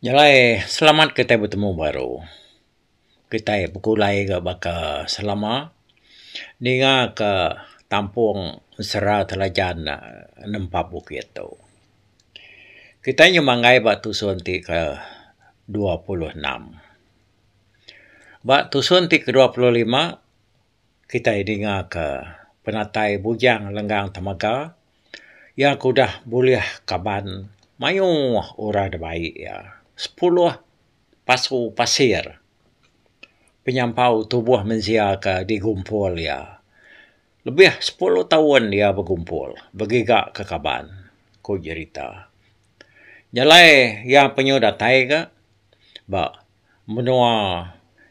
Jalai selamat kitai betemu baru. Kitai bekulai ga baka selama ninga ka tampung mesra telajan ne nempa bukit tu. Kitai nyau manggai ba tusun ti ke dua puluh enam. Ba tusun ti ke dua puluh lima kitai dingaka penatai Bujang Lenggang Temega iya ke udah bulih kaban mayuh orang da baie iya. Sepuluh pasu pasir penyampau tubuh mensia ke digumpul iya. Lebih sepuluh taun iya begumpul begiga ke kaban, ku jerita. Nyelai iya penyu datai ga ba menua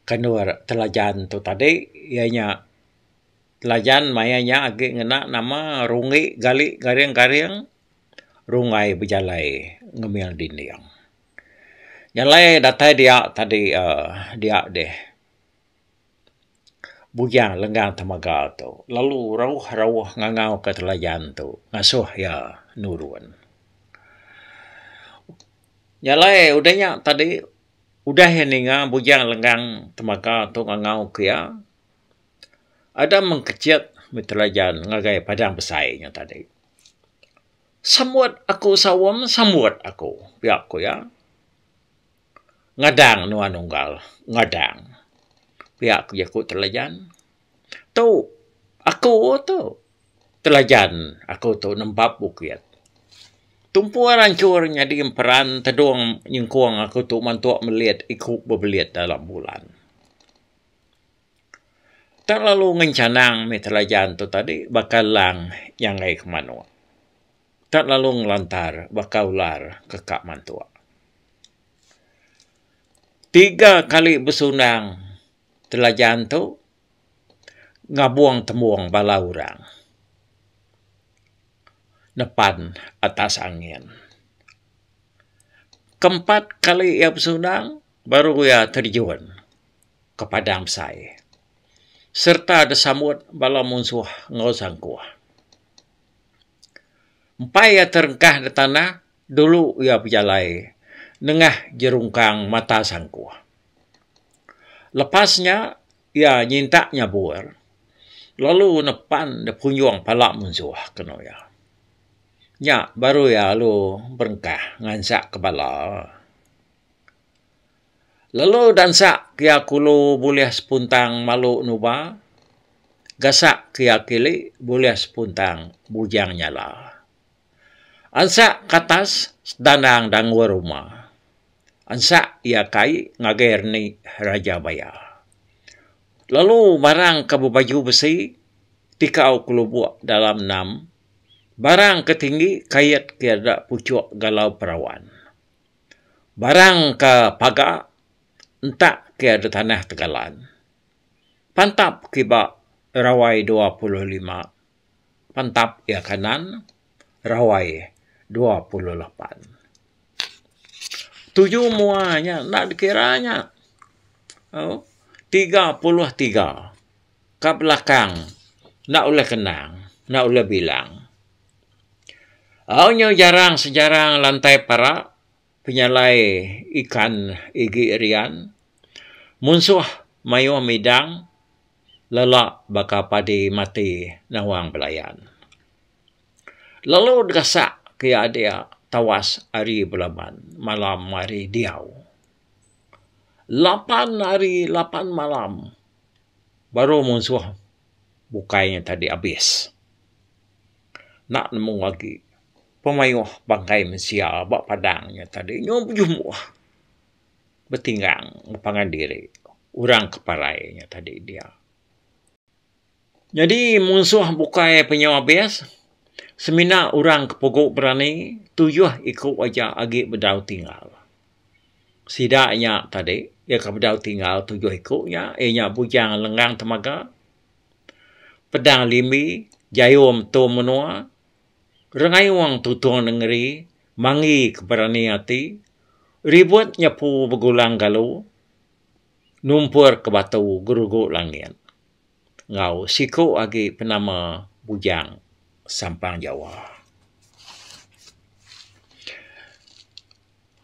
kandur Telajan tu tadi iya nya Telajan maya nya agi ngena nama Rungi Gali Garing Garing Rungai Bejalai Ngemil Dinding. Jalai datai dia tadi uhh dia dih. Bujang lenggang temaga tu lalu rauh-rauh ngangau ka telajan tu ngasuh iya nurun. Nya alai udah nya tadi udah iya ninga bujang lenggang temaga tu ngangau ka iya, ada mung kecit mih telajan ngagai padang besai nya tadi. Sambut aku sawung, sambut aku, pia ku iya. Ngadang nuan unggal ngadang. Pia ku jaku Telajan. Tu aku tu. Telajan aku tu nembap bukit. Tumpu ranchur nyadi emperan tedung nyengkung aku tu mantu melit iku bebelit dalam bulan. Tang lalu ngencanang mih Telajan tu tadi baka lang nyangai ke manuk. Enda lalu ngelantar baka ular ke ka mantuk. Tiga kali besundang Telajan tu ngabung tembung bala orang nepan atas angin. Keempat kali iya besundang baru iya terjun ke padang besai sereta disambut bala munsuh enggau sangkuh. Empai iya terengkah nda tanah, dulu iya bejalai nengah jerungkang mata sangkuh. Lepas nya, iya nyintak nyabur lalu nepan nda punjung pala munsuh kenu iya. Nya baru iya lalu berengkah ngansak ke bala. Lalu dansak kia kulu bulih sepuntang malu nuba, gasak kia kili bulih sepuntang bujang nyala. Ansak katas sedandang dangul ruma. Ansak ia kai ngagai reni Raja Baya. Lalu barang ke bebaju besi tikau kelubuk dalam enam, barang ke tinggi kait kia deda puchuk galau perawan. Barang ka paga entak ke ada tanah tegalan. Pantap kiba rawai dua puluh lima, pantap ia kanan rawai dua puluh lapan. Tuju mua nya enda dikira nya. Au, tiga puluh tiga ka belakang enda ulih kenang, enda ulih bilang. Au nyau jarang sejarang lantai parak penyalai ikan igi rian munsuh mayuh midang lala baka padi mati nawang belayan. Lalu gasak ke iya dia tawas ari belaban malam ari diau. Lapan hari lapan malam baru munsuh bukai nya tadi abis. enda nemu agi pemayuh bangkai mensia ba padang nya tadi nyau bejumbu betinggang ngepangan diri orang ke parai nya tadi dia. Nyadi munsuh bukai penyau abis semina orang ke pugu berani tuyuh iku aja agi bedau tinggal. Sida nya tadi iya ke bedau tinggal tuyuh iku nya iya nya bujang lenggang temaga. Pedang Limbi, Jayum tu menua, Rengayung tutung nengeri, Mangi ke berani ati, Ribut nyepu begulang galu, Numpur ke batu gerugu langit. Enggau siku agi penama Bujang Sampang Jawa.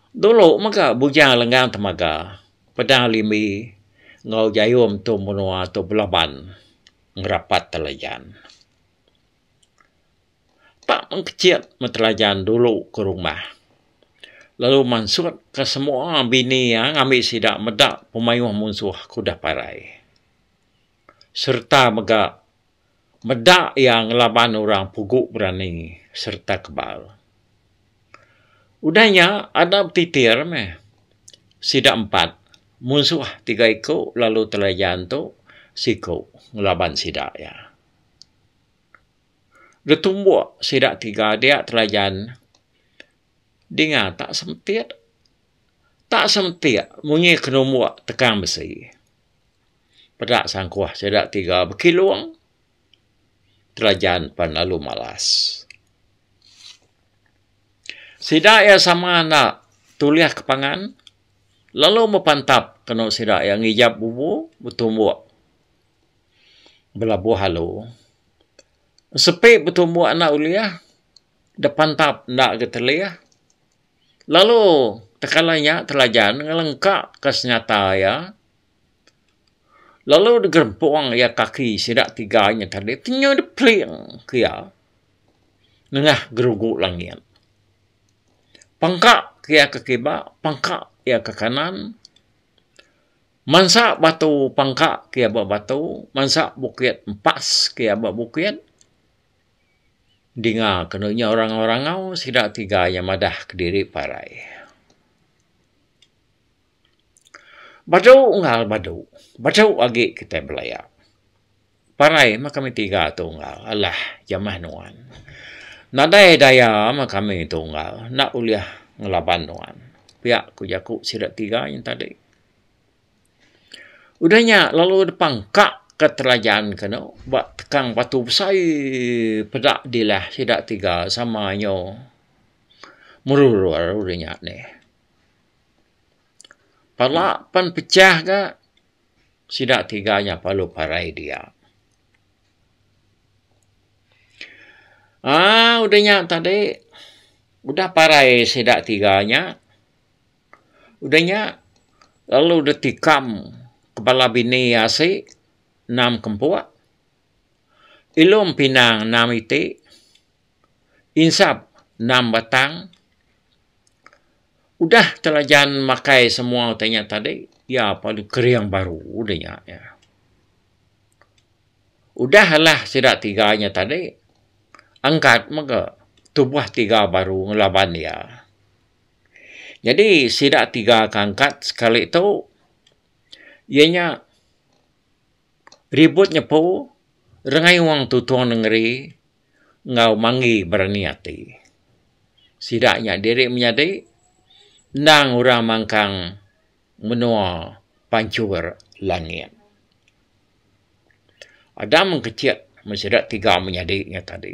Dulu mega Bujang Lenggang Temaga, Pedang Limbi enggau Jayum tu menua tu belaban ngerapat Telajan. Pak Mengkecit meh Telajan dulu ke rumah lalu mansut ke semua bini iya ngambi sida meda pemayuh munsuh ke udah parai sereta mega Meda iya ngelaban orang pugu berani sereta kebal. Udah nya ada betitir meh sida empat munsuh tiga iku lalu telajan tu siku ngelaban sida iya. Getumbuk sida tiga dia telajan dinga tak semetik tak semetik munyi kenumbuk tekang besi. Peda sangkuh sida tiga bekilung telajan pan lalu malas. Sida iya sama enda tulih ke pangan lalu bepantap kenu sida iya ngijap bubu betumbuk belabuh alu. Sepi betumbuk enda ulih depantap enda ke telih. Lalu tekala nya telajan ngelengka ke senjata iya lalu digerempung iya kaki sida tiga nya tadi ti nyau dipeling ke iya nengah gerugu langit. Pengka ke iya ke kiba, pengka ke iya ke kanan. Mansa batu pengka ke iya ba batu, mansa bukit empas ke iya ba bukit. dinga kenu nya orang rangau sida tiga iya madah kediri parai. Badu unggal badu, badu agi kitai belaya. Parai meh kami tiga tu unggal alah jamah nuan. Nadai daya meh kami tu unggal enda ulih ngelaban nuan, pia ku jaku sida tiga yen tadi. Udah nya lalu depa engkaka telajan ke eno ba tekang batu besai peda dilah sida tiga sama inyo merurur udah nya deh. Pala pen pecah ga sida tiga nya lalu parai dia. Aaa udah nya tadi udah parai sida tiga nya. Udah nya, lalu deh tikam kepala bini iya asi enam ke empuk. Ilum pinang enam iti. Insap enam batang. Udah telajan makai semua utai nya tadi, iya padu kering baru udah nya. Udah alah sida tiga nya tadi, angkat mega tubuh tiga baru ngelaban iya. Nyadi sida tiga ka angkat sekali tu iya nya ribut nyepu rengaiung tutung nengeri enggau manggi berani ati. Sida nya diri menyadi endang orang mangkang menua pancur langit. Ada mengkecek men sida tiga menyadi nya tadi.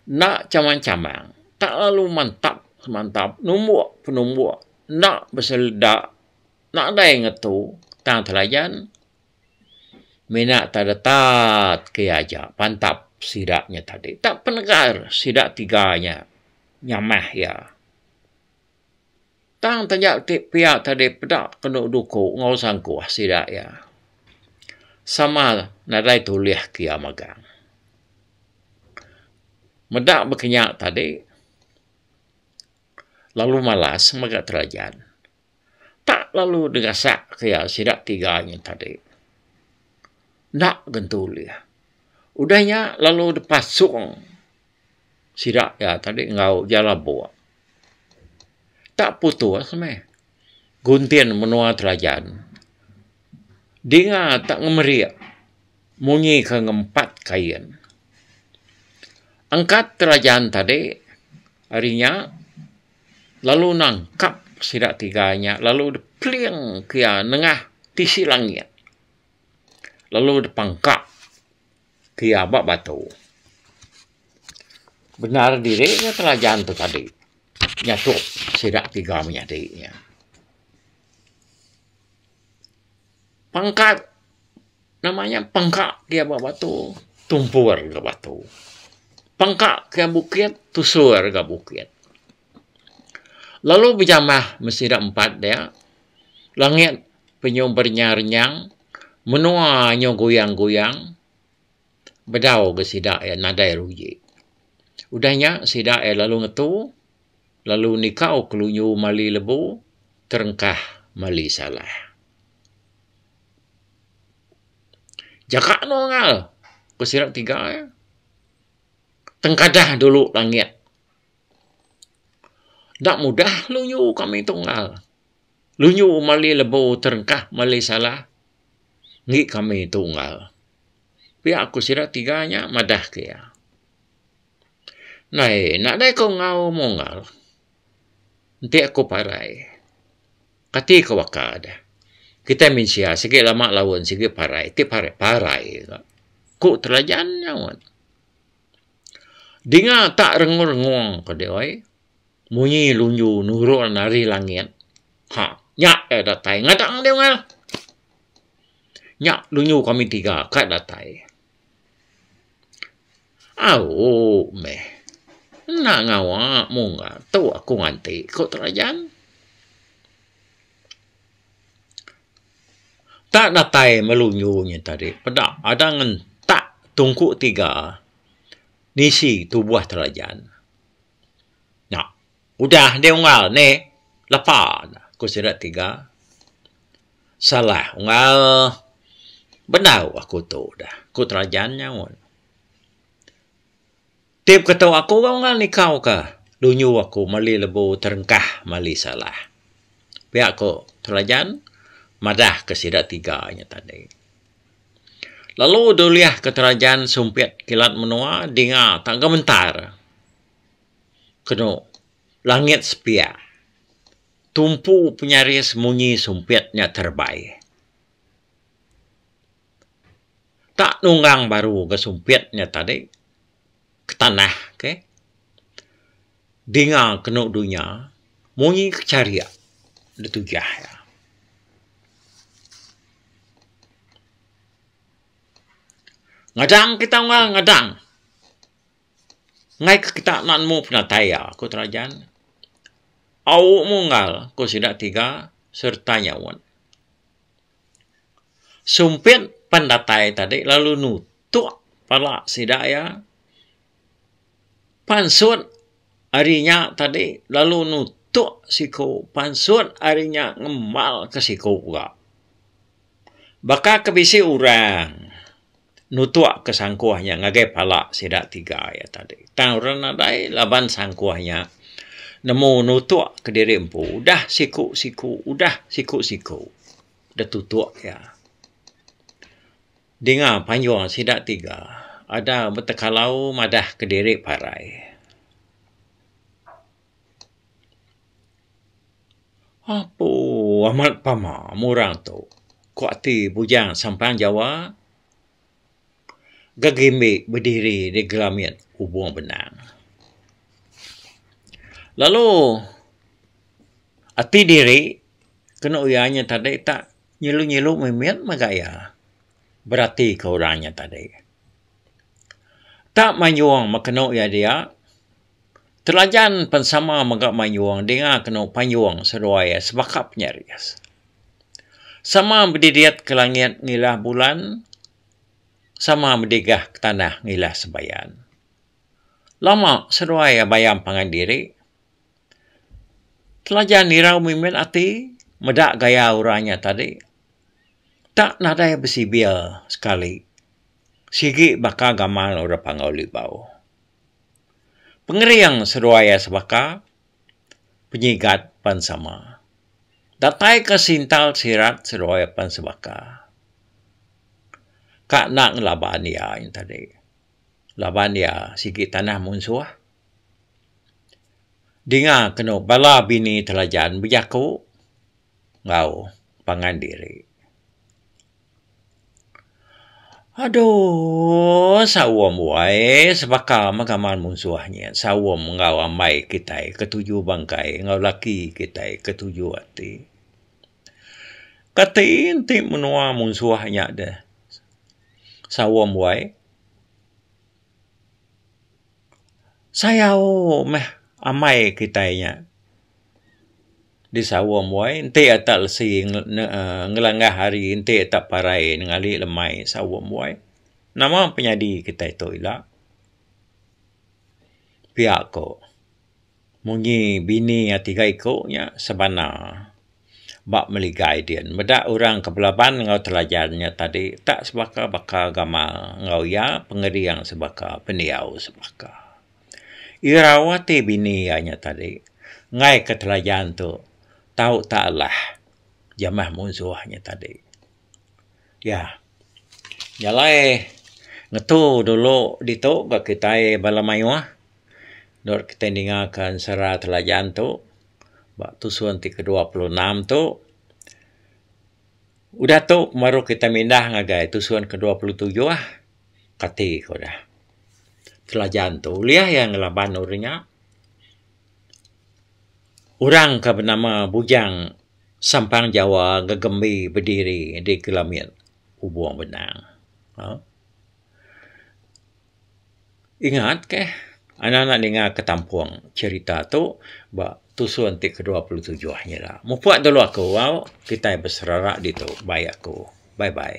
Enda chamang-chamang, tak lalu mantap semantap numbuk penumbuk enda beseleda nadai ngetu tang telayan mina teretat ke aja pantap sida nya tadi. Tak penegar sida tiga nya nyamah iya. Tang taja ti pia tadi peda kenu duku enggau sangkuh sida iya. Sama nadai tulih ke iya magang. Meda bekenya tadi lalu malas mega terajan. Tak lalu negasak ke iya sida tiga nya tadi. Enda gen tulih. Udah nya lalu depasung. Sida iya tadi enggau iya labuk. Tak putus meh. Guntin menua Telajan. Dinga tak ngemerik munyi ke ngempat kain. Angkat Telajan tadi ari nya lalu nangkap sida tiga nya lalu depling ke iya nengah tisi langit lalu depangka. ti aba batu. Bendar diri nya telajan tu tadi nyatuk sida tiga menyadi nya. Pangkat nama nya pangka ti aba batu tumpur ga batu. Pangka ga bukit tusur ga bukit. Lalu bejamah meh sida empat dia. Langit penyu berenyang-renyang, menua nyu goyang-goyang. Bedau ga sida iya nadai ruji. Udah nya sida iya lalu ngetu lalu nikau kelunyu mali lebu terengkah mali salah. Jaga anu angai, ku sida tiga iya. Tengkadah dulu langit. Enda mudah lunyu kami tunggal. Lunyu mali lebu terengkah, mali salah, enggi kami tunggal. Pia ku sida tiga nya madah ke iya. Nai, nadai ku enggau munggal. Enti ku parai, kati ku baka deh. Kitai mensia sigi lama laun, sigi parai, ti parai, parai ka. Ku Telajan nya. Dinga tak rengong-rengong ke dih oi. Munyi lunju nurun ari langit. Ha, nya kai datai. Ngadak ngan dih unggal. Nya lunju kami tiga kai datai. Au meh. Enda ngawa mu unggal tu aku nganti, ku Terajan. Tak datai melu nyu nya tadi peda ada ngentak tungku tiga nisi tubuh telajan. Nya udah deh unggal neh lepa ne ku sida tiga. Salah unggal bedau aku tu dah ku telajan nyaut. Tip ke tu aku ga unggal nikau ka dunyu aku meli lebu terengkah meli salah. Pia ko Telajan madah ke sida tiga nya tadi. Lalu dulih ke Telajan sumpit kilat menua dinga tak gementar kenu langit sepia tumpu penyaris munyi sumpit nya terebai. tak nunggang baru ga sumpit nya tadi ke tanah ke dinga kenu dunya munyi ke charik da tujah iya. Ngadang kita unggal ngadang ngaika kita enda nemu penatai iya, ku Terajan. Au mu unggal, ku sida tiga sereta nyaut. Sumpit pen datai tadi lalu nutuk pala sida iya. Pansut ari inya tadi lalu nutuk siku. Pansut ari inya ngembalka siku ga. Baka ke bisi orang. nutuk ke sangkuh nya ngagai pala sida tiga iya tadi. Tang orang nadai laban sangkuh nya nemu nutuk kediri empu udah siku-siku udah siku-siku deh tutuk iya. Dinga panjung sida tiga ada betekalau madah kediri parai. Apo amat pama meh orang tu. Ku ati bujang sampan jawa, gegimbi bediri di gelamit hubung benang. Lalu ati diri kenu iya nya tadi tak nyilu-nyilu mimit mega iya beratika orang nya tadi. Tak manjung meh kenu iya dia. Telajan pen sama mega mayung dinga kenu panyung seduai sebaka penyaris. Sama bedidit ke langit ngilah bulan, sama bedigah ke tanah ngilah sebayan. Lama seduai bayam pangan diri. Telajan irau mimin ati meda gaya orang nya tadi. Tak nadai besibir sekali sigi baka gamal orang Panggau Libau. Pengering seduai iya sebaka, penyigat pan sama. Datai ke sintal sirat seduai pan sebaka. Ka enda ngelaban iya nya tadi. Laban iya sigi tanah munsuh. Dinga kenu bala bini telajan bejaku enggau pangan diri. Aduh saum wai sebaka mega maan munsuh nyin saum enggau amai kitai ke tuju bangkai enggau laki kitai ke tuju ati. Kati enti menua munsuh nya deh saum wai. sayau meh amai kitai nya di Sawa mboy enti ata lesi uhh ngelengah hari enti ata parai ngali lemai Sawa mboy nama penyadi kitai tu ila pia ko. Munyi bini iya tiga iku nya sebana ba meligai din. Meda orang ke belaban enggau telajan nya tadi tak sebaka baka gamal enggau iya pengering sebaka pendiau sebaka. Irau ati bini iya nya tadi enggai ke telajan tu tau tak alah jamah munsuh nya tadi. Iya jalai ngetu dulu ditu ga kitai bala mayuh. Dot kitai ningaka ensera telajan tu ba tusun ti ke dua puluh enam tu udah tu baru kitai mindah ngagai tusun ke dua puluh tujuh kati ko da telajan tu ulih iya ngelaban orang nya orang ke benama Bujang Sampang Jawa Gegembi Bediri di Kelabit Ubong Benang. Ingat ke anak anak ninga ke tampung cherita tu ba tusun ti ke dua puluh tujuh ngi ila. Mupok dulu aku au kitai beserara ditu bai aku. Bye bye.